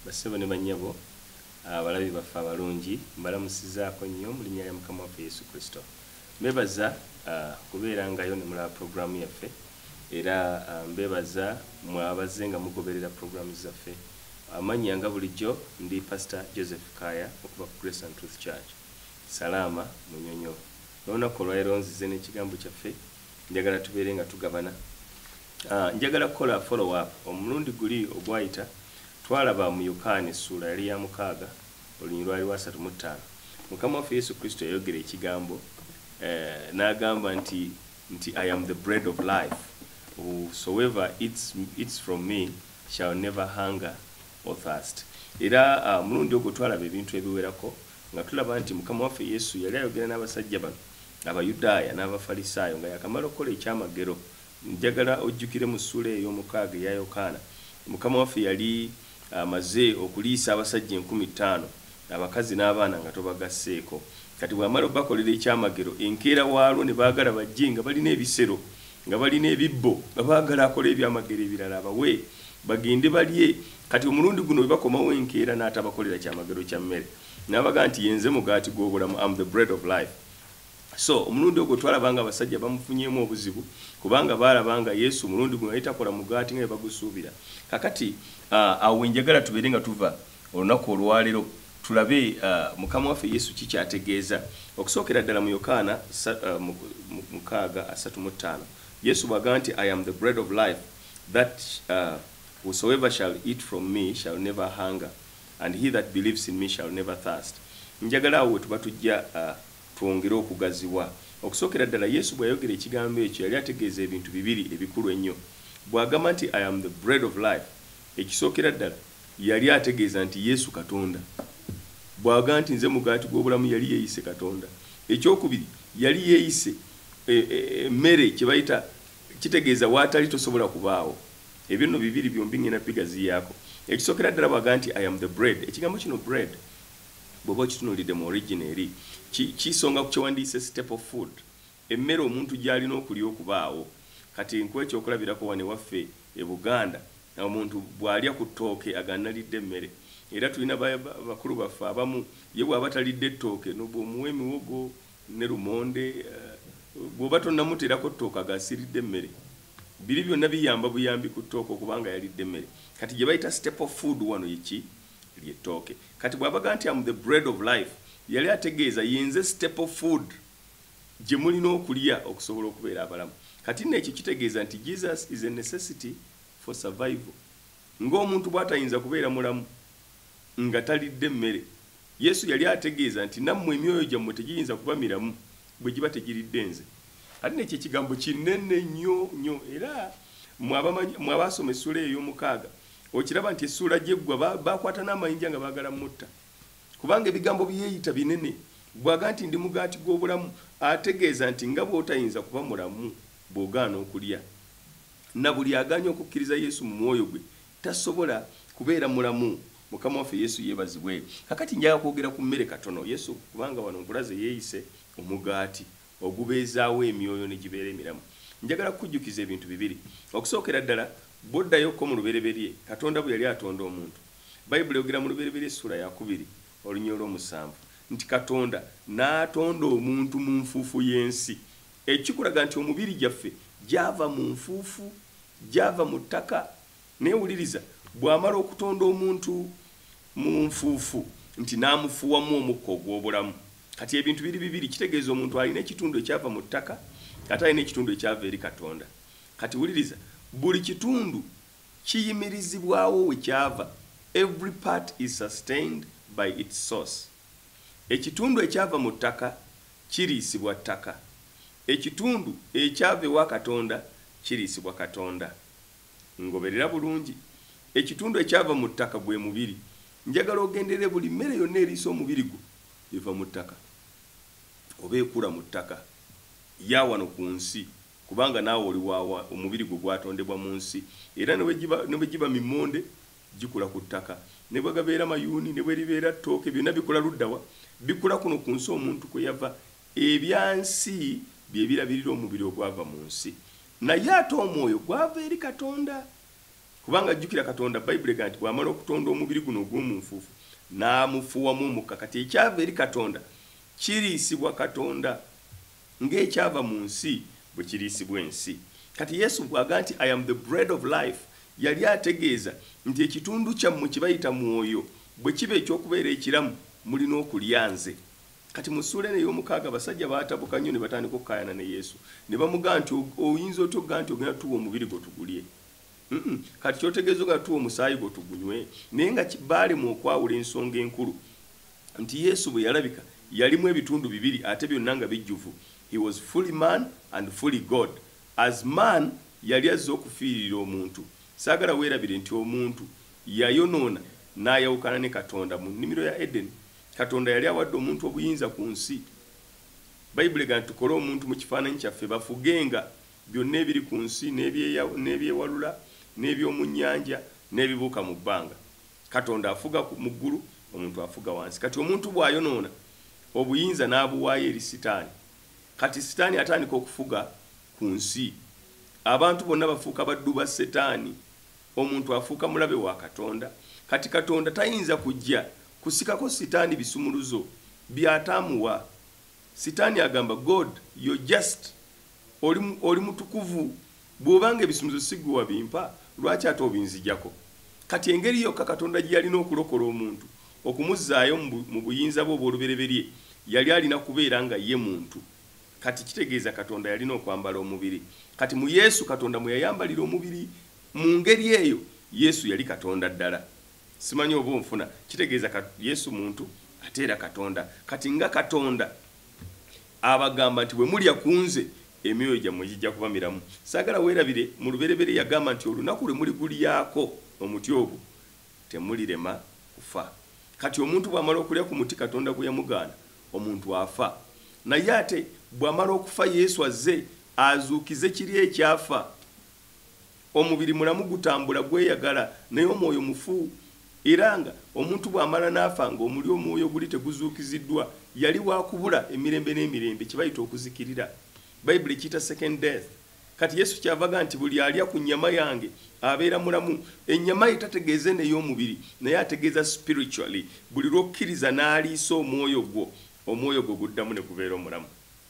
bassebo ne bannyabo abalabi baffe abalungi mbalamusizaako nnyo mu linnya lya mukama waffe yesu kristo mbebaza ah, kubeera ngayo ne mulaba puroguraamu yaffe era ah, mbebaza mwabaze nga mugoberera puroguraamu zaffe amannya nga bulijjo ndi pasita joseph kaya okuva ku grace and truth church salaama munyonyo N'olunaku olwalero nzize n'ekigambo kyaffe njagala tubeere nga tugabana. Ah, njagala kukola follow up. Omulundi guli ogwayita twalaba mu Yokaana essuula yali ya mukaaga olunyiriri lwali lwa satu mu ttaano. Mukama waffe Yesu Kristo yayogera ekigambo eh, n'agamba nti nti I am the bread of life whosoever eats, eats from me shall never hunger or thirst. Era ah, omulundi ogwo twalaba ebintu ebiwerako Nga tulaba nti Mukama waffe Yesu yali ayogera n'abasajja bano Abayudaaya n'Abafalisaayo nga yaakamala okukola ekyamagero, njagala ojjukire mu ssuula ey'omukaaga eya Yokaana, Mukama waffe yali amaze okuliisa abasajja enkumi ttaano, abakazi n'abaana nga tobagasseeko. Kati bw'amala obbakolera ekyamagero, enkeera waalwo ne baagala bajje nga balina ebisero. nga balina ebibbo nga baagala akola ebyamagero ebirala abawe bagende balye kati omulundi guno webakomawo enkeera n'atabakolera kyamagero kya mmere n'abaga nti yenze mugaati gw'obulamu am the bread of life so omulundi ogwo twalaba nga abasajja bamufunyemu obuzibu kubanga baalaba nga yesu omulundi guno naye takola mugaati nga webagusuubira kakati ah, awo wenjagala tubeere nga tuva Olunaku olwalero tulabe Mukama waffe Yesu ki kyategeeza. Okusookera ddala mu Yokaana mukaaga asatu mu ttaano Yesu bwagamba nti I am the bread of life that whosoever shall eat from me shall never hunger and he that believes in me shall never thirst njagala awo wetuba tujja twongere okugaziwa. Okusookera ddala Yesu bweyayogera ekigambo ekyo yali ategeeza ebintu bibiri ebikulu ennyo. Bwagamba nti I am the bread of life ekisookera ddala Yali ategeeza nti Yesu Katonda. Bw'aga nti Nze mugaati gw'obulamu, yali yeeyise Katonda. Eky'okubiri, yali yeeyise e, e, e, emmere, kye bayita, kitegeeza w'atali tosobola kubaawo. Ebyo nno bibiri byombi ŋŋenda bigaziyaako. Ekisookera ddala bw'aga nti I am the bread. Ekigambo kino bread, bw'oba okitunulidde mu origin eri, ki, kisonga ku kye wandiyise staple food. Emmere omuntu gy'alina okulya okubaawo. Kati nkuwe ekyokulabirako wano ewaffe e Buganda, omuntu bw'alya ku ttooke aga nnalidde emmere. Era tulina ba, ba, bakulu baffe abamu, ye bw'aba talidde ttooke, no, bw'omuwa emiwogo ne lumonde, uh, bw'oba tonnamuteerako ttooke aga siridde mmere. Biri byonna biyamba buyambi ku ttooke okuba nga yalidde emmere. Kati gye bayita staple food wano ye ki? Lye ttooke. Kati bw'abaga nti am the bread of life, yali ategeeza, Ye nze staple food. gye mulina okulya okusobola okubeera abalamu. Kati nno ekyo kitegeeza nti Jesus is a necessity for survival. Nga omuntu bw'atayinza kubeera mulamu nga talidde mmere, Yesu yali ategeeza nti nammwe emyoyo gyammwe tegiyinza kuba miramu bwe giba tegiridde Nze. Kati nno ekyo ekigambo kinene nnyo nnyo. Era mmwe abamanyi, mmwe abaasoma essuula eyo ey'omukaaga, okiraba nti essuula gye ggwa ba, baakwata n'amayinja nga baagala mmutta. Kubanga ebigambo bye yeeyita binene. Bw'aga nti ndi mugaati gw'obulamu, ategeeza nti nga bw'otayinza kuba mulamu bw'ogaana okulya. Na buli agaanye okukkiriza Yesu mu mwoyo gwe tasobola kubeera mulamu. Mukama waffe Yesu yeebazibwe. Kaakati njagala kwogera ku mmere katono. Yesu, kubanga wano nkulaze yeeyise omugaati ogubeezaawo emyoyo ne gibeera emiramu. Njagala kukujjukiza ebintu bibiri. Okusookera ddala, bw'oddayo ko mu lubereberye, Katonda bwe yali atonda omuntu, Bayibuli eyogera mu Lubereberye essuula ya kubiri olunya olw'omusanvu nti Katonda n'atonda omuntu mu nfuufu y'ensi. Ekyo kikulaga nti omubiri gyaffe gyava mu nfuufu, gyava mu ttaka. Naye wuliriza, bw'amala okutonda omuntu mu nfuufu, nti n'amufuuwamu omukka ogw'obulamu. Kati ebintu biri bibiri, kitegeeza omuntu alina ekitundu ekyava mu ttaka ate alina ekitundu ekyava eri Katonda. Kati wuliriza, buli kitundu Kiyimirizibwawo we kyava, every part is sustained by its source. Ekitundu ekyava mu ttaka kiriisibwa ttaka. Ekitundu ekyava ewa Katonda kiriisibwa Katonda. Ngoberera bulungi. Ekitundu ekyava mu ttaka gwe mubiri. Njagala ogenderere buli mmere yonna eriisa omubiri gwo eva mu ttaka oba ekula mu ttaka, ya wano ku nsi Kubanga naawe oli wa wa, omubiri gwo gwatondebwa mu nsi. Era ne bwe giba, ne bwe giba mimmonde, gikula ku ttaka. Ne bwe gabeera mayuuni, ne bwe libeera ttooke, byonna bikula ludda wa? Bikula kuno ku nsi omuntu kwe yava. Ebya nsi bye birabirira omubiri ogwava mu nsi. Naye ate Omwoyo gwava eri Katonda. Kubanga, jjukira, Katonda, Bayibuli egamba nti, bw'amala okutonda omubiri guno ogw'omu nfuufu, n'amufuuwamu Omukka. Kati ekyava eri Katonda kiriisibwa Katonda. Ng'ekyava mu nsi bwe kiriisibwa ensi. Kati Yesu bw'aga nti, I am the bread of life, yali ategeeza nti ekitundu kyammwe kye bayita mwoyo bwe kiba eky'okubeera ekiramu, mulina okulya nze. Kati mu ssuula eno ey'omukaaga abasajja baatabuka nnyo ne batandika okukaayana ne Yesu. Ne bamugaa nti, Oyinza otya okugaa nti ogenda tuwa omubiri gwo tugulye? kati kyotegeeza ogatuwa omusaayi gwo tugunywe naye nga baalemu okwawula ensonga enkulu nti yesu bwe yalabika yalimu ebitundu bibiri ate byonna nga bijjuvu he was fully man and fully god as man yali azze okufiirira omuntu saagala weerabire nti omuntu yayonoona n'ayawukana ne katonda mu nnimiro ya edeni katonda yali awadde omuntu obuyinza ku nsi bayibuli gana tukole omuntu mu kifaananyi kyaffe bafugenga Byonna ebiri ku nsi, n'eby'ewalula, n'eby'omu nnyanja, n'ebibuuka mu bbanga. Katonda afuga mu ggulu, omuntu afuga wansi. Kati omuntu bw'ayonoona, obuyinza n'abuwaayo eri Sitaani. Kati Sitaani atandika okufuga ku nsi. Abantu bonna bafuuka baddu ba Setaani. Omuntu afuuka mulabe wa Katonda. Kati Katonda tayinza kujja kusikako Sitaani bisumuluzo by'ataamuwa. Sitaani agamba God, you're just. Oli, oli mutukuvu. Bw'oba nga ebisumuluzo si ggwe wabimpa, lwaki ate obinzigyako? Kati, engeri yokka Katonda gye yalina okulokola omuntu, okumuzzaayo mu, mu buyinza bwe obw'olubereberye, yali alina kubeera nga ye muntu. Kati, kitegeeza Katonda yalina okwambala omubiri. Kati, mu Yesu, Katonda mwe yayambalira omubiri, mu ngeri eyo, Yesu yali Katonda ddala. Ssimanyi oba onfuna. Kitegeeza, Ka, Yesu muntu, ate era Katonda. Kati, nga Katonda. Abagamba nti, Bwe mulya ku nze, emyoyo gyammwe gijja kuba miramu. Saagala weerabire, mu lubereberye yagamba nti, Olunaku lwe muligulyako omuti ogwo, temulirema kufa. Kati omuntu bw'amala okulya ku muti Katonda gwe yamugaana, omuntu afa. Naye ate bw'amala okufa, Yesu azze azuukize kiri ekyafa. Omubiri mulamu gutambula gweyagala, naye omwoyo mufu. Era nga omuntu bw'amala n'afa nga omuli omwoyo guli teguzuukiziddwa, yali wa kubula emirembe n'emirembe, kye bayita okuzikirira. Bayibuli ekiyita second death. Kati Yesu kyava aga nti, Buli alya ku nnyama yange abeera mulamu. Ennyama ye tategeeza eno ey'omubiri, naye ategeeza spiritually. Buli lw'okkiriza n'aliisa omwoyo gwo, omwoyo gwo guddamu ne gubeera omulamu.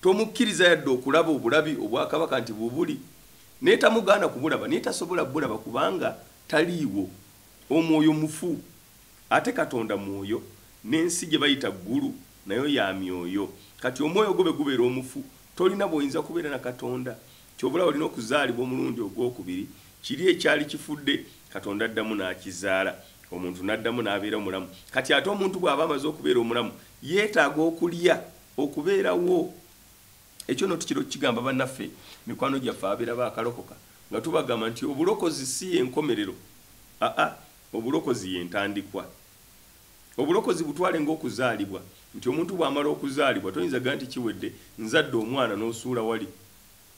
Tomukkiriza yadde okulaba obulabi obwa Kabaka nti bubuli, naye tamugaana kubulaba, naye tasobola kubulaba kubanga taliiwo. Omwoyo mufu. Ate Katonda Mwoyo, n'ensi gye bayita Ggulu nayo ya myoyo. Kati omwoyo gwo bwe gubeera omufu, tolina bw'oyinza kubeera na Katonda. Ky'ova olaba olina okuzaalibwa omulundi ogw'okubiri, kiri ekyali kifudde, Katonda addamu n'akizaala, omuntu n'addamu n'abeera omulamu. Kati ate omuntu bw'aba amaze okubeera omulamu, yeetaaga okulya. Okubeerawo. Ekyo nno tukira okukigamba bannaffe, mikwano gyaffe ababeera baakalokoka, nga tubagamba nti obulokozi si ye nkomerero. Aa, obulokozi ye ntandikwa. Obulokozi butwale nga okuzaalibwa, nti omuntu bw'amala okuzaalibwa, toyinza gamba nti kiwedde, nzadde omwana n'osuula wali.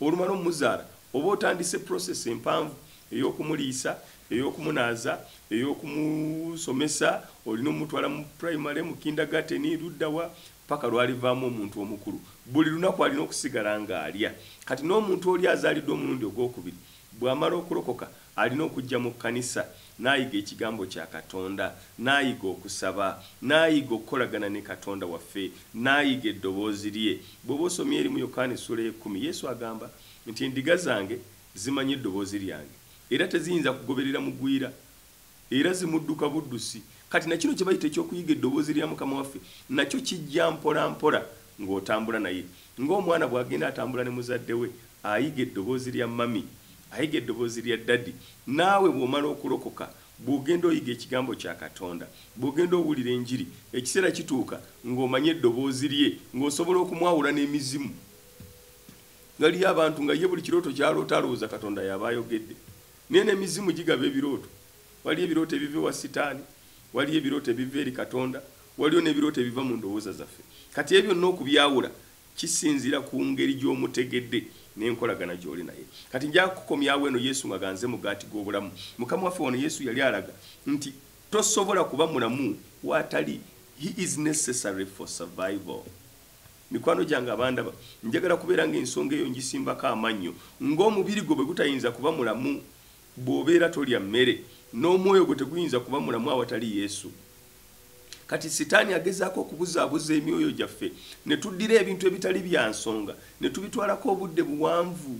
Olumala ommuzaala oba otandise process empanvu ey'okumuliisa, ey'okumunaaza, ey'okumusomesa, olina omutwala mu primary, mu kindergarten, ludda wa? Paka lwalivaamu omuntu omukulu. Buli lunaku alina okusigala nga alya. Kati n'omuntu oli azaalidwa omulundi ogw'okubiri Bw'amala okulokoka, alina okujja mu kkanisa n'ayiga Ekigambo kya Katonda, n'ayiga okusaba, n'ayiga okukolagana ne Katonda waffe, n'ayiga Eddoboozi lye. Bw'oba osomye eri mu Yokaana essuula ey'ekkumi, Yesu agamba nti, Endiga zange zimanyi eddoboozi lyange, era teziyinza kugoberera mugwira Era zimudduka buddusi. Kati, na kino kye bayita eky'okuyiga Eddoboozi lya Mukama waffe, nakyo kijja mpolampola, ng'otambula naye. Nga omwana bw'agenda atambula ne muzadde we, ayiga eddoboozi lya Mummy, ayiga eddoboozi lya Daddy. Naawe bw'omala okulokoka, bw'ogenda oyiga Ekigambo kya Katonda, bw'ogenda owulira Enjiri, ekiseera kituuka nga omanyi Eddoboozi Lye, nga osobola okumwawula n'emizimu. Waliyo abantu nga ye buli kirooto ky'aloota alowooza Katonda y'aba ayogedde. Naye n'emizimu gigaba ebirooto. Waliyo ebirooto ebiva ewa Sitaani, waliyo ebirooto ebiva eri Katonda, waliyo n'ebirooto ebiva mu ndowooza zaffe. Kati ebyo byonna okubyawula kisinziira ku ngeri gy'omutegedde n'enkolagana gy'oli naye. Kati nja kukomyawo eno, Yesu nga ganze Mugaati gw'Obulamu. Mukama waffe, wano Yesu yali alaga nti tosobola kuba mulamu w'atali. He is necessary for survival. Mikwano gyange abandaba, njagala kubeera ng'ensonga eyo ngisimbako amannyo. Ng'omubiri gwo bwe gutayinza kuba mulamu bw'obeera tolya mmere, n'omwoyo gwo teguyinza kuba mulamu awatali Yesu. Kati Sitaani agezaako okubuzaabuza emyoyo gyaffe ne tuddira ebintu ebitali bya nsonga ne tubitwalako obudde buwanvu.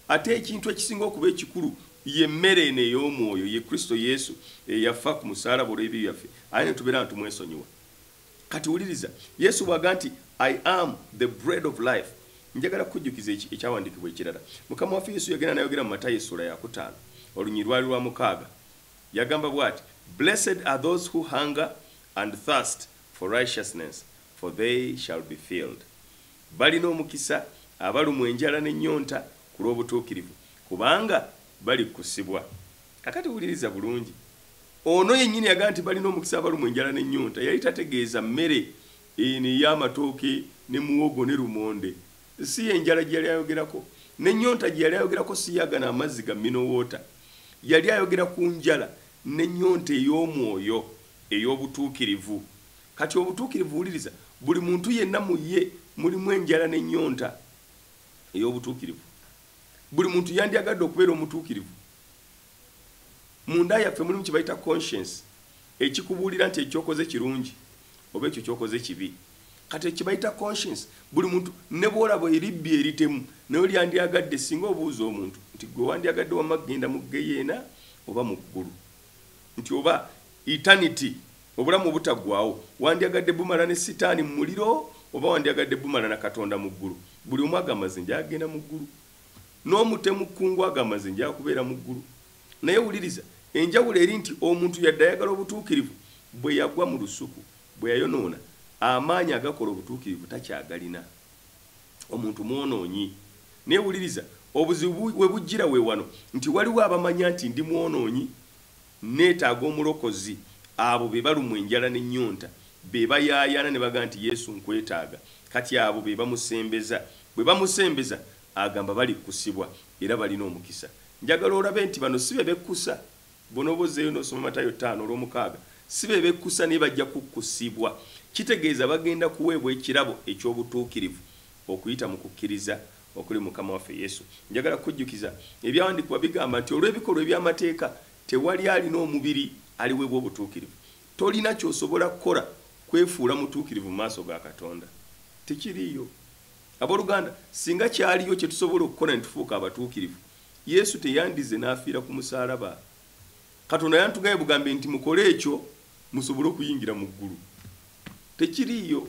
Ate ekintu ekisinga okuba ekikulu ye mmere eno ey'omwoyo, ye Kristo Yesu eyafa ku musaalaba olw'ebibi byaffe, ate ne tubeera nga tumwesonyiwa. kati wuliriza yesu bwaga nti i am the bread of life njagala kukujjukiza ekyawandiikibwa ekirala mukama waffe yesu yagenda nayogera mu matayo essuula yakutaano olunyiri lwali lwa mukaaga yagamba bwati blessed are those who hunger and thirst for righteousness for they shall be filled balina omukisa abalumwa enjala n'ennyonta ku lw'obutuukirivu kubanga bali kukusibwa kakati wuliriza bulungi Ono yennyini yagamba nti balina omukisa abalumwa enjala n'ennyonta. Yali tategeeza mmere eno ey'amatooke ne muwogo ne lumonde. Si ye njala gye yali ayogerako. N'ennyonta gye yali ayogerako si ya gano amazzi ga Mineral Water. Yali ayogera ku njala n'ennyonta ey'omwoyo, ey'obutuukirivu. Kati obutuukirivu, wuliriza, buli muntu yenna mu ye mulimu enjala n'ennyonta ey'obutuukirivu. Buli muntu yandyagadde okubeera omutuukirivu. munda yaffe mulimu kyebayita conscience ekikubuulira nti ekyokoze kirungi oba ekyo kyokoze kibi kati ekibayita conscience buli muntu ne bwolaba eribbi eritemu naye olyandyagadde singa obuuza omuntu nti gwe wandyagadde wamma kugenda mu geyeena oba mu ggulu nti oba eternity obulamu obutaggwawo wandyagadde bumala ne sitaani mu muliro oba wandyagadde bumala na katonda mu ggulu buli omu agamba ze ndyagenda mu ggulu n'omutemu kkungu agamba nze njaa kubeera mu ggulu naye wuliriza enjawulo eri nti omuntu yadde ayagala obutuukirivu bwe yagwa mu lusuku bwe yayonoona amaanyi agakola obutuukirivu takyagalina omuntu mwonoonyi naye wuliriza obuzibu we bujjira we wano nti waliwo abamanya nti ndi mwonoonyi Nneetaaga Omulokozi. Abo be balumwa enjala n'ennyonta, be bayaayaana ne bagamba nti, Yesu, nkwetaaga. Kati abo be bamusembeza. Bwe bamusembeza, Agamba, Balikkusibwa, era balina omukisa. Njagala olabe nti bano si be bekkusa. Bw'onooba ozzeeyo n'osoma Matayo ttaano olw'omukaaga, si be bekkusa, naye bajja kukkusibwa. Kitegeeza bagenda kuweebwa ekirabo eky'obutuukirivu okuyita mu kukkiriza. okuli Mukama waffe Yesu. Njagala kukujjukiza, Ebyawandiikibwa bigamba nti olw'ebikolwa eby'amateeka tewali alina omubiri aliweebwa obutuukirivu. Tolina ky'osobola kukola kwefuula mutuukirivu mu maaso ga Katonda. Tekiriiyo. Ab'oluganda, singa kyaliyo kye tusobola okukola ne tufuuka abatuukirivu, Yesu teyandizze n'afiira ku musaalaba. Katonda yanditugaye bugambi nti mukole ekyo musobole okuyingira mu ggulu. Tekiriiyo.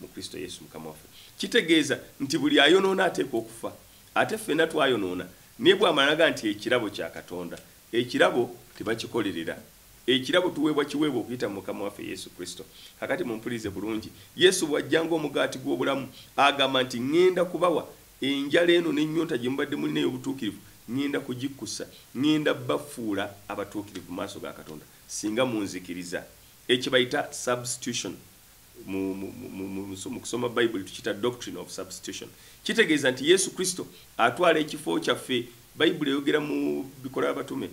mu Kristo Yesu Mukama waffe. Kitegeeza nti buli ayonoona ateekwa okufa. Ate ffenna twayonoona, naye bw'amalaga nti ekirabo kya Katonda. Ekirabo tebakikolerera. Ekirabo tuweebwa kiweebwa okuyita mu Mukama waffe Yesu Kristo. Kaakati mumpulirize bulungi. Yesu bw'ajja nga Omugaati gw'Obulamu, agamba nti, Ŋŋenda kubawa, enjala eno n'ennyonta gye mubadde mulina ey'obutuukirivu, ŋŋenda kugikkusa. Ŋŋenda bafuula abatuukirivu mu maaso ga Katonda, singa munzikiriza. Ekyo kye bayita substitution. mu kusoma bayibuli tukiyita doctrine of substitution kitegeeza nti yesu kristo atwala ekifo kyaffe bayibuli eyogera mu bikola abatume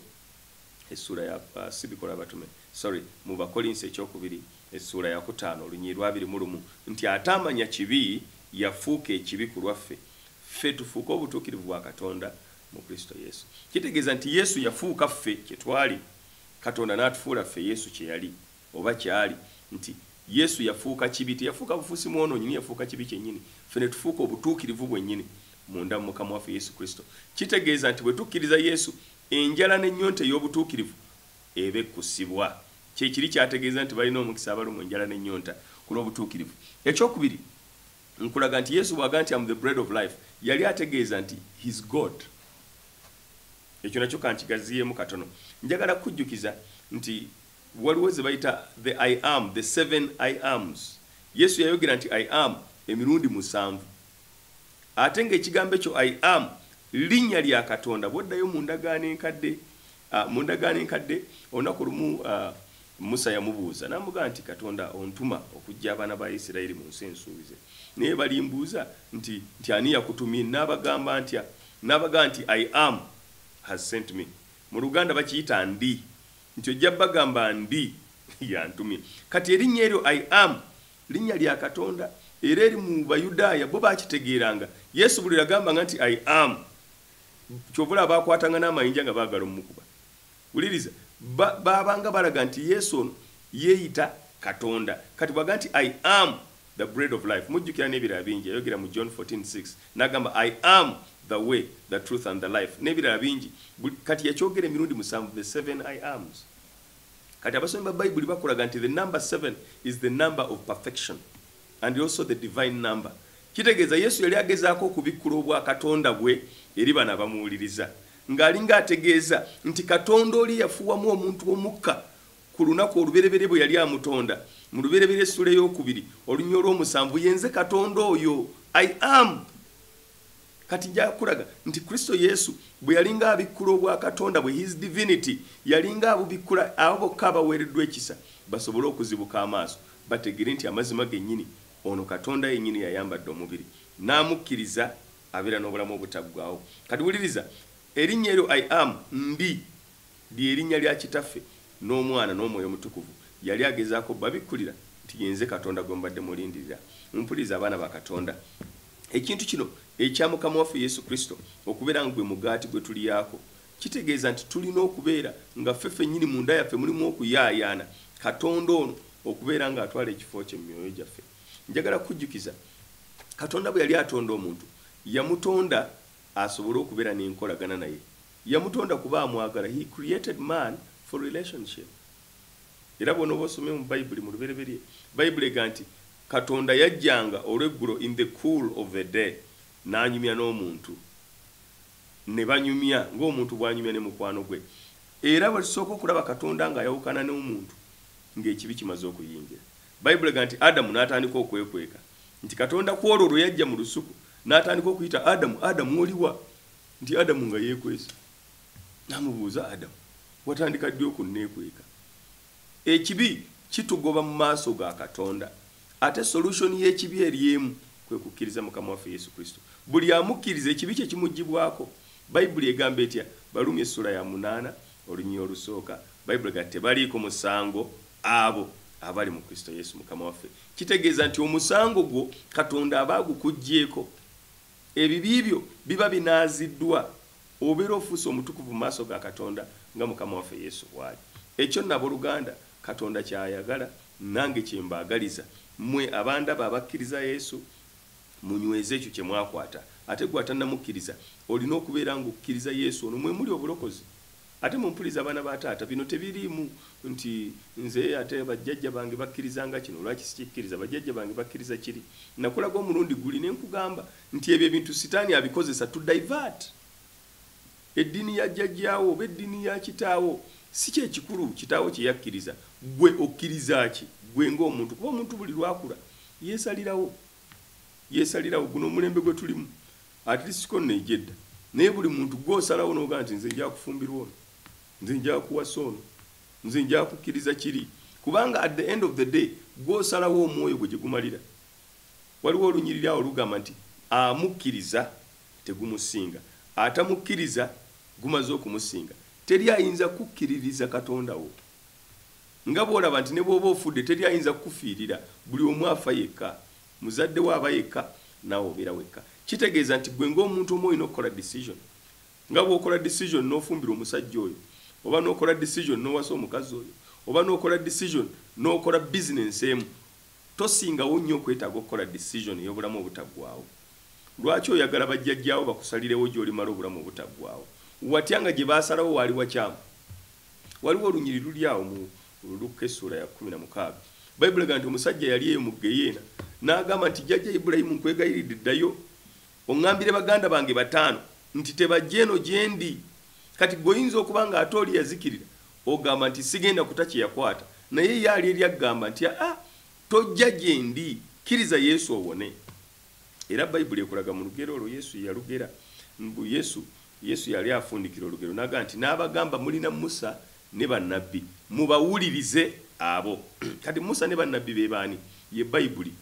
essuula ya uh, si bikola abatume sorry mu bakolinsi ekyokubiri essuula yakutaano olunyii lwabiri mu lumu nti ataamanya kibi yafuuka ekibi ku lwaffe ffe tufuuke obutuukirivu bwa katonda mu kristo yesu kitegeeza nti yesu yafuuka ffe kyetwali katonda n'atufuula ffe yesu kyeyali Oba kyali nti Yesu yafuuka kibi, teyafuuka bufuusi mwonoonyi, naye yafuuka kibi kyennyini. Ffe ne tufuuka obutuukirivu bwennyini munda mu Mukama waffe Yesu Kristo. Kitegeeza nti bwe tukkiriza Yesu, enjala n'ennyonta ey'obutuukirivu eba ekkusibwa. Kye kiri kyategeeza nti balina omukisa abalumwa enjala n'ennyonta ku lw'obutuukirivu. Eky'okubiri, nkulaga nti Yesu bw'agamba nti am the bread of life, yali ategeeza nti his God. Ekyo nakyo ka nkigaziyeemu katono. Njagala kukujjukiza nti. Waliwo ze bayita the I am, the seven I ams. Yesu yayogera nti I am emirundi musanvu. Ate ng'ekigambo ekyo I am linnya lya Katonda. Bw'oddayo mu ndagaano enkadde, uh, mu ndagaano enkadde olunaku lumu uh, Musa yamubuuza n'amugamba nti Katonda ontuma okujja abaana ba Isirayiri mu nsi ensuubize. Naye balimbuuza nti nti ani yakutumye? N'abagamba ntya? N'abagamba nti I am has sent me. Mu Luganda bakiyita ndi. Nti ojja bagamba ndi yantumye. Kati erinnya eryo I am linnya lya Katonda era eri mu Bayudaaya bo baakitegeeranga. Yesu buli lwe yagambanga nti I am, kyova olaba baakwatanga n'amayinja nga baagala omukuba. Wuliriza, ba, baabanga balaga nti Yesu ono yeeyita Katonda. Kati bw'agamba nti I am, the bread of life. Mujjukira n'ebirala bingi yayogera mu John 14, 6 n'agamba I am the way, the truth and the life n'ebirala bingi kati yakyogera emirundi musanvu the seven I ams. Kati abasomi ba Bayibuli bakulaga nti the number seven is the number of perfection and also the divine number. Kitegeeza Yesu yali agezaako okubikkula obwa Katonda bwe eri bano abamuwuliriza ng'alinga ategeeza nti Katonda oli yafuwamu omuntu omukka Ku lunaku olubereberye bwe yali amutonda, mu Lubereberye essula ey'okubiri olunya olw'omusanvu, Ye nze Katonda oyo, I am. Kati nja kukulaga nti Kristo Yesu bwe yalinga abikkula obwakatonda bwe, His Divinity, yalinga abubikkula abo bokka abaweereddwa ekisa basobole okuzibuka amaaso, bategere nti amazima gennyini, ono Katonda yennyini yayambadde omubiri, n'amukkiriza, abeera n'obulamu obutaggwaawo. Kati wuliriza, Erinnya eryo I am, Ndi. Lye linnya lya Kitaffe, n'Omwana, n'Omwoyo Omutukuvu. Yali agezaako obbabikkulira nti, Ye nze Katonda gwe mubadde mulindirira. Mumpulirize, abaana ba Katonda. Ekintu kino ekya Mukama waffe Yesu Kristo okubeera nga gwe mugaati gwe tuliaako, kitegeeza nti tulina okubeera nga ffe ffennyini munda yaffe mulimu okuyaayaana Katonda ono okubeera nga atwala ekifo kye mu myoyo gyaffe. Njagala kukujjukiza, Katonda bwe yali atonda omuntu, yamutonda asobole okubeera n'enkolagana naye. Yamutonda kuba amwagala, he created man for relationship era bwonoba osomye mu bayibuli mu lubereberye bayibuli ega nti Katonda yajjanga olweggulo in the cool of the day nanyumya n'omuntu ne banyumya ng'omuntu bwanyumya ne mukwano gwe era bwetusooka okulaba Katonda ng'ayawukana n'omuntu ng'ekibi kimaze okuyingira bayibuli ega nti Adamu n'atandika okwekweka nti Katonda kwolwo lwe yajja mu lusuku n'atandika okuyita Adamu Adamu oliwa nti adamu nga yekwese namubuuza adamu watandika ddi okunneekweka ekibi kitugoba mu maaso ga katonda ate solution y'ekibi eri emu kwe kukkiriza mukama waffe yesu kristo buli amukkiriza ekibi kye kimugibwako bayibuli egamba etya balumi essula ya munaana olunyuyi olusooka bayibuli ga tebaliiko musango abo abali mu kristo yesu mukama waffe kitegeeza nti omusango gwo katonda aba agukugyeko Ebibi byo biba binaaziddwa, obeera ofuuse omutukuvu mu maaso ga Katonda nga Mukama waffe Yesu bw'ali. Ekyo nno, abooluganda, Katonda ky'ayagala, nange kye mbaagaliza. Mmwe abandaba abakkiriza Yesu, munyweze ekyo kye mwakwata. Ate ggwe atannamukkiriza, olina okubeera ng'okkiriza Yesu, olwo mwe muli obulokozi. Ate mumpulize abaana ba taata bino tebiriimu nti nze ate bajjajja bange bakkirizanga kino lwaki sikikkiriza bajjajja bange bakkiriza kiri nakulaga omulundi guli ne nkugamba nti ebyo ebintu sitaani abikozesa to divert eddiini ya jjajjaawo oba eddiini ya kitaawo si kyekikulu kitaawo kye yakkiriza gwe okkiriza ki gwe ng'omuntu kuba omuntu buli lwakula yeesalirawo yeesalirawo guno omulembe gwe tulimu At least ko ne jedda. Naye buli muntu gwo osalawo noga nti nze nja kufumbirwa ono. Nze nja kuwasa ono. Nze nja kukiriza kiri. Kubanga at the end of the day gwo osalawo omwoyo gwe gyegumalira. Waliwo olunyiriri awo lugamba nti amukiriza tegumusinga. Atamukiriza gumaze okumusinga. Teri ayinza kukiririza Katonda wo. Nga bwolaba nti ne bwoba ofudde teri ayinza kukufiirira. Buli omu afa yekka. Muzadde wo aba yekka, naawe obeera wekka. Kitegeeza nti ggwe ng'omuntu omu olina okukola decision. Nga bw'okola decision n'ofumbirwa omusajja oyo, oba n'okola decision n'owasa omukazi oyo, oba n'okola decision n'okola business emu, tosingawo nnyo okwetaaga okukola decision ey'obulamu obutaggwaawo? Lwaki oyagala bajjajjaawo bakusalirewo gy'olimala obulamu obutaggwaawo? Watya nga gye baasalawo waali wakyamu? Waliwo olunyiriri luli awo mu. Mu Lukka essuula ya kkumi na mukaaga, Bayibuli egamba nti, Omusajja yali eyo mu ggeyeena, n'agamba nti, Jjajja Ibulayimu, nkwegayiridde, ddayo oŋŋambire baganda bange bataano nti tebajja eno gye ndi. Kati ggwe oyinza okuba nga ate oli yazikirira, ogamba nti, Sigenda kuta kye yakwata. Naye ye ali eri akugamba nti, Aa, tojja gye ndi. Kkiriza Yesu owone. Era Bayibuli ekulaga mu lugero olwo Yesu ye yalugera, mbu, Yesu Yesu yali afundikira olugero n'agamba nti, N'abagamba, Mulina Musa ne bannabbi, mubawulirize abo. Kati Musa ne bannabbi be baani? Ye Bayibuli.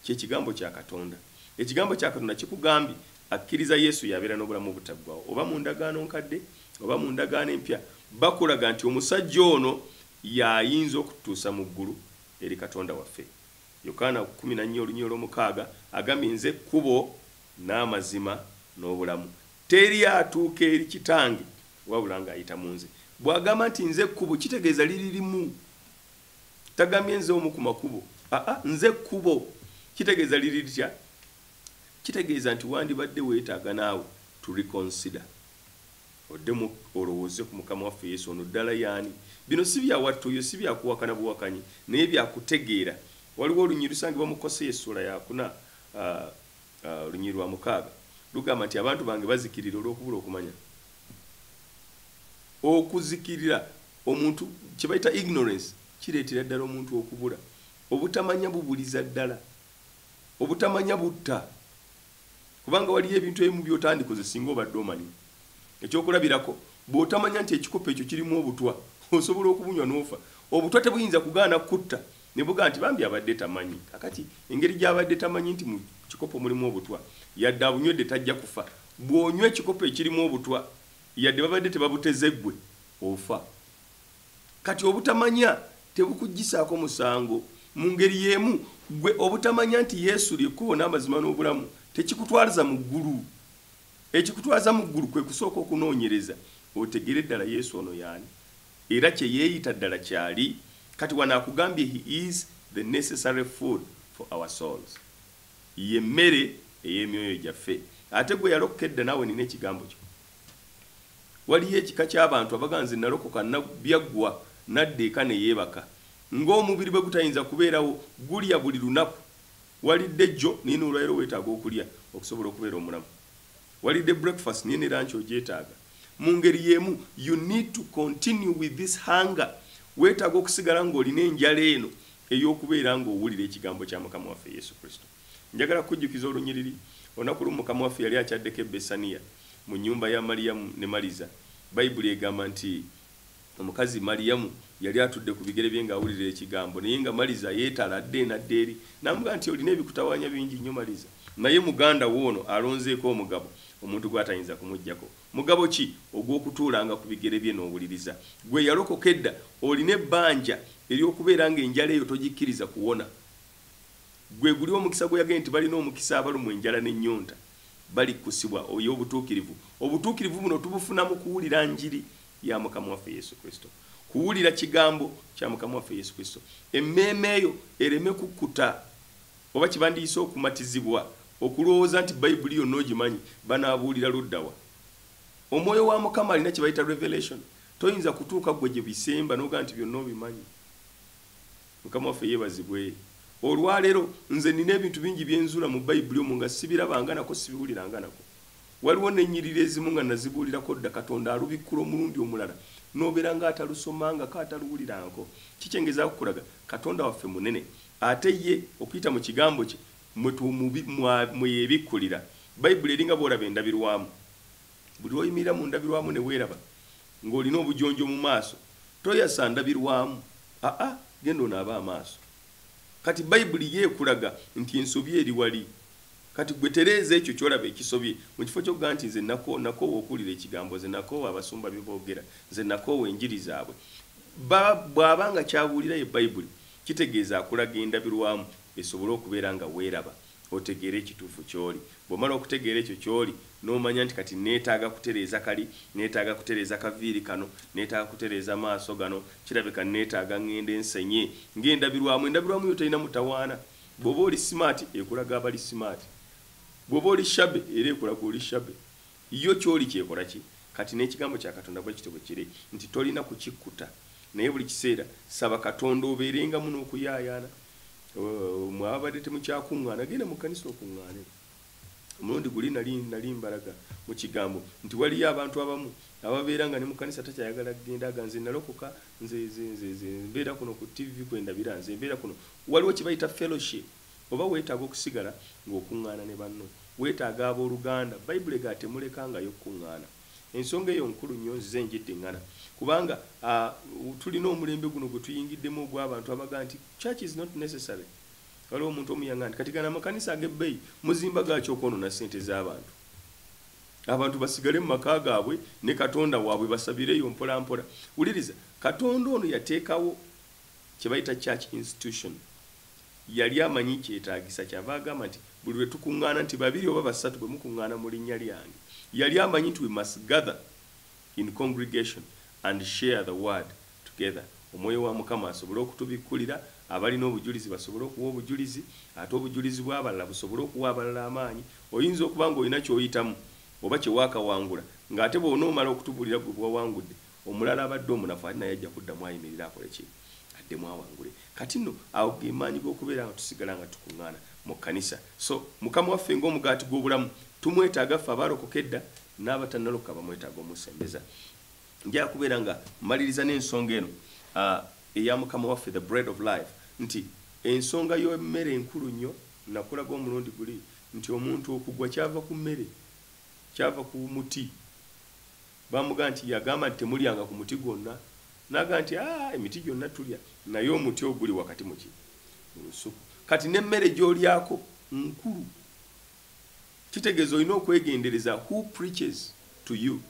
Kye Kigambo kya Katonda. Ekigambo kya Katonda kikugambye, Akkiriza Yesu y'abeera n'obulamu obutaggwaawo. Oba mu Ndagaano Nkadde, oba mu Ndagaano Empya, bakulaga nti omusajja ono y'ayinza okututuusa mu ggulu eri Katonda waffe. Yokaana kumi na nnya olunyiriri olwomukaaga agambye, Nze kkubo, n'amazima, n'obulamu, teri atuuka eri Kitange wabula nga ayita mu nze. Bw'agamba nti nze kkubo, kitegeeza liri limu. Tagambye nze omu ku makubo. Aa, nze kkubo. Kitegeeza liri litya? Kitegeeza nti wandibadde weetaaga naawe to reconsider. Oddemu olowooze ku Mukama waffe Yesu. Ono ddala y'ani? Bino si bya wattu, oyo si bya kuwakana buwakanyi, naye bya kutegeera. Waliwo olunyiriri lusangibwa mu Koseya essuula yakuna, olunyiriri lwa mukaaga. Lugamba nti, Abantu bange bazikirira olw'okubula okumanya. Okuzikirira, omuntu kye bayita ignorance, kireetera ddala omuntu okubula. Obutamanya bubuliza ddala. Obutamanya butta. Kubanga waliyo ebintu ebimu by'otandikoze singa obadde omanyi. Ekyokulabirako, bw'otamanya nti ekikopo ekyo kirimu obutwa, osobola okubunywa n'ofa. Obutwa tebuyinza kugaana kukutta ne bugamba nti, Bambi abadde tamanyi. Kaakati, engeri gy'abadde tamanyi nti mu kikopo mulimu obutwa, yadde abunywedde tajja kufa. Bw'onywa ekikopo ekirimu obutwa, yadde babadde tebabuteze ggwe, ofa. Kati obutamanya tebukuggisaako musango? Mu ngeri y'emu, ggwe obutamanya nti Yesu lye kkubo n'amazima n'obulamu tekikutwalza mu ggulu? Ekikutwaza mu ggulu kwe kusooka okunoonyereza otegere ddala Yesu ono y'ani era kye yeeyita ddala ky'ali. Kati wano akugambye He is the necessary food for our souls. Ye mmere ey'emyoyo gyaffe. Ate ggwe yalokoka edda naawe nina ekigambo kyo. waliyo ekika ky'abantu abaga nze nalokoka byaggwa nadda eka ne yeebaka ng'omubiri bwe gutayinza kubeerawo gulya buli lunaku walidde jjo naye n'olwalero weetaaga okulya okusobola okubeera omulamu walidde breakfast naye ne lanki ogyetaaga mu ngeri y'emu you need to continue with this hunger weetaaga okusigala ng'olina enjala eno ey'okubeera ng'owulira ekigambo kya mukama waffe yesu kristo Njagala kukujjukiza olunyiriri. Olunaku lumu Mukama waffe yali akyaddeko e Bessaniya, mu nnyumba ya Maliyamu ne Maliza. Bayibuli egamba nti, Omukazi, Maliyamu, yali atudde ku bigere bye nga awulira Ekigambo, naye nga Maliza yeetala adda eno adda eri. N'amugamba nti, Olina ebikutawaanya bingi nnyo, Maliza, naye muganda wo ono alonzeeko omugabo omuntu gw'atayinza kumuggyako. Mugabo ki? Ogw'okutuulanga ku bigere bye n'owuliriza. Ggwe eyalokoka edda, olina ebbanja ery'okubeera nga enjala eyo togikkiriza kuwona. Gwe guli omukisa gwe yagee nti balina omukisa abalumwa enjala ne nyonta bali kusibwa oyo obutukirivu. Obutukirivu buno tubufuna mu kuwulira njiri ya Mukama waffe Yesu Kristo. Kuwulira kigambo kya Mukama waffe Yesu Kristo. Emmeeme yo ereme kukkuta oba kye bandiyise okumatizibwa okulowooza nti Bayibuli yonna ogimanyi, banaabuulira ludda wa? Omwoyo wa Mukama alina kye bayita revelation. Toyinza kutuuka gwe gye bisemba n'ogamba nti byonna obimanyi. Mukama waffe yebazibwe olwalero nze nina ebintu bingi byenzula mu bayibuli omu nga sibirabanganako sibiwuliranganako waliwo nenyirira ezimu nga nazibuulirako dda katonda alubikkula omulundi omulala nobera nga atalusomangako ataluwuliranko kikyengezakukulaga katonda waffe munene ate ye okuyita mu kigambo kye mweyebikkulira bayibuli eringa bwolaba endabirwamu buli lwoyimirira mu ndabirwamu neweraba Nga olina obujonjo mu maaso toyasa ndabirwamu aa genda onaabe amaaso kati bayibuli yo ekulaga nti ensobi eri wali kati gwe tereeza ekyo kyolaba ekisobye mu kifo kyokugamba nti nze nakoowa nakoowa okuwulira ekigambo nze nakoowa abasumba bye boogera nze nakoowa enjiri zaabwe ba bwaba nga kyabuulira ye bayibuli kitegeeza akulaga endabirwamu esobole okubeera nga weeraba. otegeere ekituufu ky'oli. Bw'omala okutegeera ekyo ky'oli, n'omanya nti kati nneetaaga kutereeza kali, nneetaaga kutereeza kaviiri kano, nneetaaga kutereeza maaso gano, kirabika nneetaaga ŋŋende nsenye ng'endabirwamu. Endabirwamu yo terina mutawaana. Bw'oba oli simaati, ekulaga abali simaati. Bw'oba oli shabby, era ekulaga oli shabby. Yo ky'oli ky'ekola ki? Kati n'Ekigambo kya Katonda bwe kityo bwe kiri, nti tolina kukikkuta, naye buli kiseera saba Katonda obeerengamu n'okuyaayaana. mwabadde temukyakuŋŋaana genda mu kkanisa okuŋŋaane omulundi guli nali nali mbalaga mu kigambo nti waliyo abantu abamu ababeera nga ne mu kkanisa takyayagala kugenda aga nze nalokoka nze nze nze nze mbeera kuno ku ttivi kwe ndabira nze mbeera kuno waliwo kye bayita fellowship oba weetaaga okusigala ng'okuŋŋaana ne banno weetaaga abooluganda bayibuli ega temulekangayo kukuŋŋaana Ensonga eyo nkulu nnyo nzize ngiddiŋŋana kubanga uh, tulina omulembe guno gwe tuyingiddemu ogw'abantu abaga nti church is not necessary waliwo omuntu omuyanga nti kati gana amakanisa ag'ebbeeyi muzimba gaaki okwonona ssente z'abantu abantu basigale mu maka gaabwe ne katonda waabwe basabireyo mpolampola wuliriza katonda ono yateekawo kye bayita church institution Yali amanyi kyetaagisa, kyava agamba nti, Buli lwe tukuŋŋaana, nti babiri oba basatu bwe mukuŋŋaana mu linnya lyange. Yali amanyi nti we must gather in congregation and share the word together, Omwoyo wa Mukama asobole okutubikkulira, abalina obujulizi basobole okuwa obujulizi, ate obujulizi bw'abalala busobole okuwa abalala amaanyi. Oyinza okuba nga olina ky'oyitamu oba kye waakawangula, nga ate bw'onoomala okutubuulira gwe bwe wawangudde, omulala abadde omunafu ate naye ajja kuddamu ayimirire akole ki? addemu awangule kati nno awo ge maanyi g'okubeera nga tusigala nga tukuŋŋaana mu kkanisa so mukama waffe ng'omugaati gw'obulamu tumwetaaga ffe abaalokoka edda n'abatannalokoka bamwetaaga omusembeza njaga kubeera nga mmaliriza n'ensonga eno ah, eya mukama waffe the bread of life nti ensonga y'emmere enkulu nnyo nakulaga omulundi guli nti omuntu okugwa kyava ku mmere kyava ku muti Bamugamba nti, Yagamba nti, Temulyanga ku muti gwonna. N'agamba nti, Aa, emiti gyonna tulya, naye omuti oguli wakati mu ki? Mu lusuku. Kati n'emmere gy'olyako nkulu. Kitegeeza olina okwegendereza who preaches to you.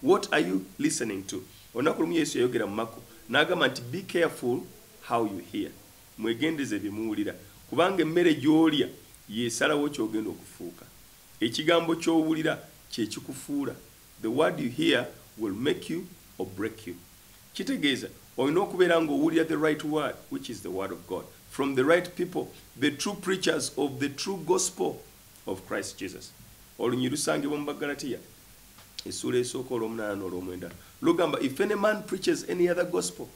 What are you listening to? Olunaku lumu Yesu yayogera mu Makko n'agamba nti, Be careful how you hear. Mwegendereze bye muwulira, kubanga emmere gy'olya y'esalawo ky'ogenda okufuuka. Ekigambo ky'owulira kye kikufuula. The word you hear will make you or break you kitegeeza olina okubeera nga owulira the right word which is the word of God from the right people the true preachers of the true gospel of Christ Jesus olunyiriri lusangibwa mu Bagalatiya essuula esooka olw'omunaana n'olw'omwenda lugamba if any man preaches any other gospel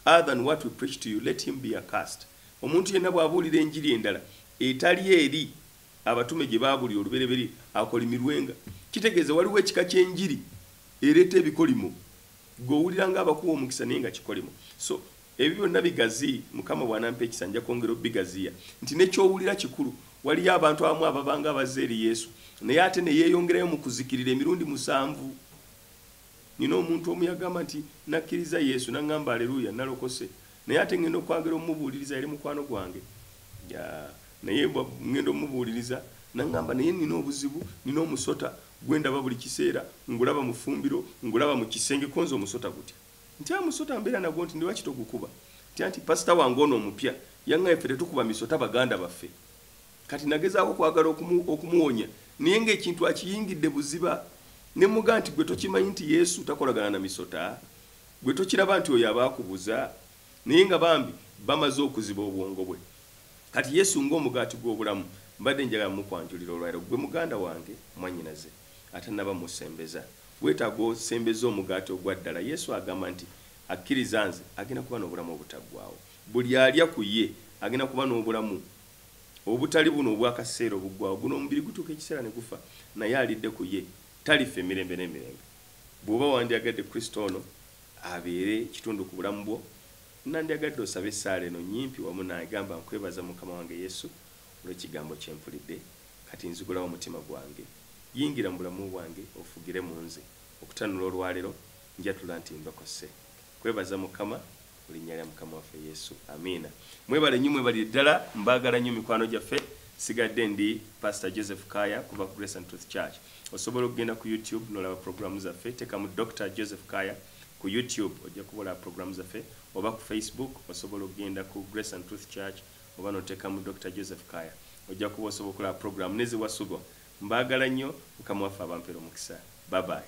other than what we preach to you let him be accursed omuntu yenna bw'abuulira enjiri endala etali eri Abatume gye baabulira olubereberye akolimirwenga. Kitegeeza waliwo ekika ky'enjiri ereeta ebikolimo gwe owulira nga abakuwa omukisa naye nga kikolimo. So ebyo byonna bigazi Mukama bw'anampa ekisa nja kwongera obigaziya nti ne ky'owulira kikulu. Waliyo abantu abamu ababanga abazze eri Yesu naye ate ne yeeyongerayo mu kuzikirira emirundi musanvu. Nnina omuntu omu yagamba nti, Nnakkirizza Yesu, n'aŋŋamba, Aleruuya, nnalokose. Naye ate ŋŋenda okwagera omubuuliriza, yali mukwano gwange. Ya, naye bwa, ŋŋenda omubuuliriza. N'aŋŋamba, Naye nnina obuzibu, nnina omusota, gwe ndaba buli kiseera, ngulaba mu ffumbiro, ngulaba mu kisenge. Ko nze omusota gutya? Ntya musota, mbeera nagwo nti, Lwaki togukuba? Ntya nti, pasita wange ono omupya, yaŋŋaye ffe tetukuba misota baganda baffe. Kati nagezaako okwagala okumu, okumuwonya, naye nga ekintu akiyingidde buziba. Ne mmugaa nti, Ggwe tokimanyi nti Yesu takolagana na misota? Ggwe tokiraba nti oyo aba akubuza? Naye nga bambi bamaze okuziba obwongo bwe. Kati Yesu nga Omugaati gw'Obulamu, mbadde njagala mmukwanjulira olwa leero. Ggwe muganda wange, mwannyinaze, atannaba musembeza. Weetaaga osembeze Omugaati ogwa ddala. Yesu agamba nti, Akkiriza Nze, agenda kuba n'Obulamu Obutaggwaawo. Buli alya ku Ye, agenda kuba n'Obulamu Obutali buno obw'akaseera obuggwaawo, guno omubiri gutuuka ekiseera ne gufa, naye alidde ku Ye talifa emirembe n'emirembe. Bw'oba wandyagadde Kristo ono abeere kitundu ku bulamu bwo, nnandyagadde osabe essaala eno nnyimpi wamu nange. Gamba, Nkwebaza, Mukama wange Yesu, olw'Ekigambo kye mpulidde. Kati nzigulawo omutima gwange. Yingira mu bulamu bwange, ofugire mu nze. Okutanula olwaleero, njatula nti ndokose. Kwebaza mukama mulinya lya mukama waffe yesu amiina mwebale nyo mwebalire ddala mbagala nyo mikwano gyaffe sigadde ndi pastor joseph kaya kuva ku grace and truth church osobola okugenda ku youtube nolaba programu zaffe tekamu dr joseph kaya ku youtube ojja kuba olaba programu zaffe oba ku facebook osobola okugenda ku grace and truth church oba notekamu dr joseph kaya ojja kuba osobola okulaba programu neziwasubwa mbagala nyo mukama waffe abampera omukisa babayi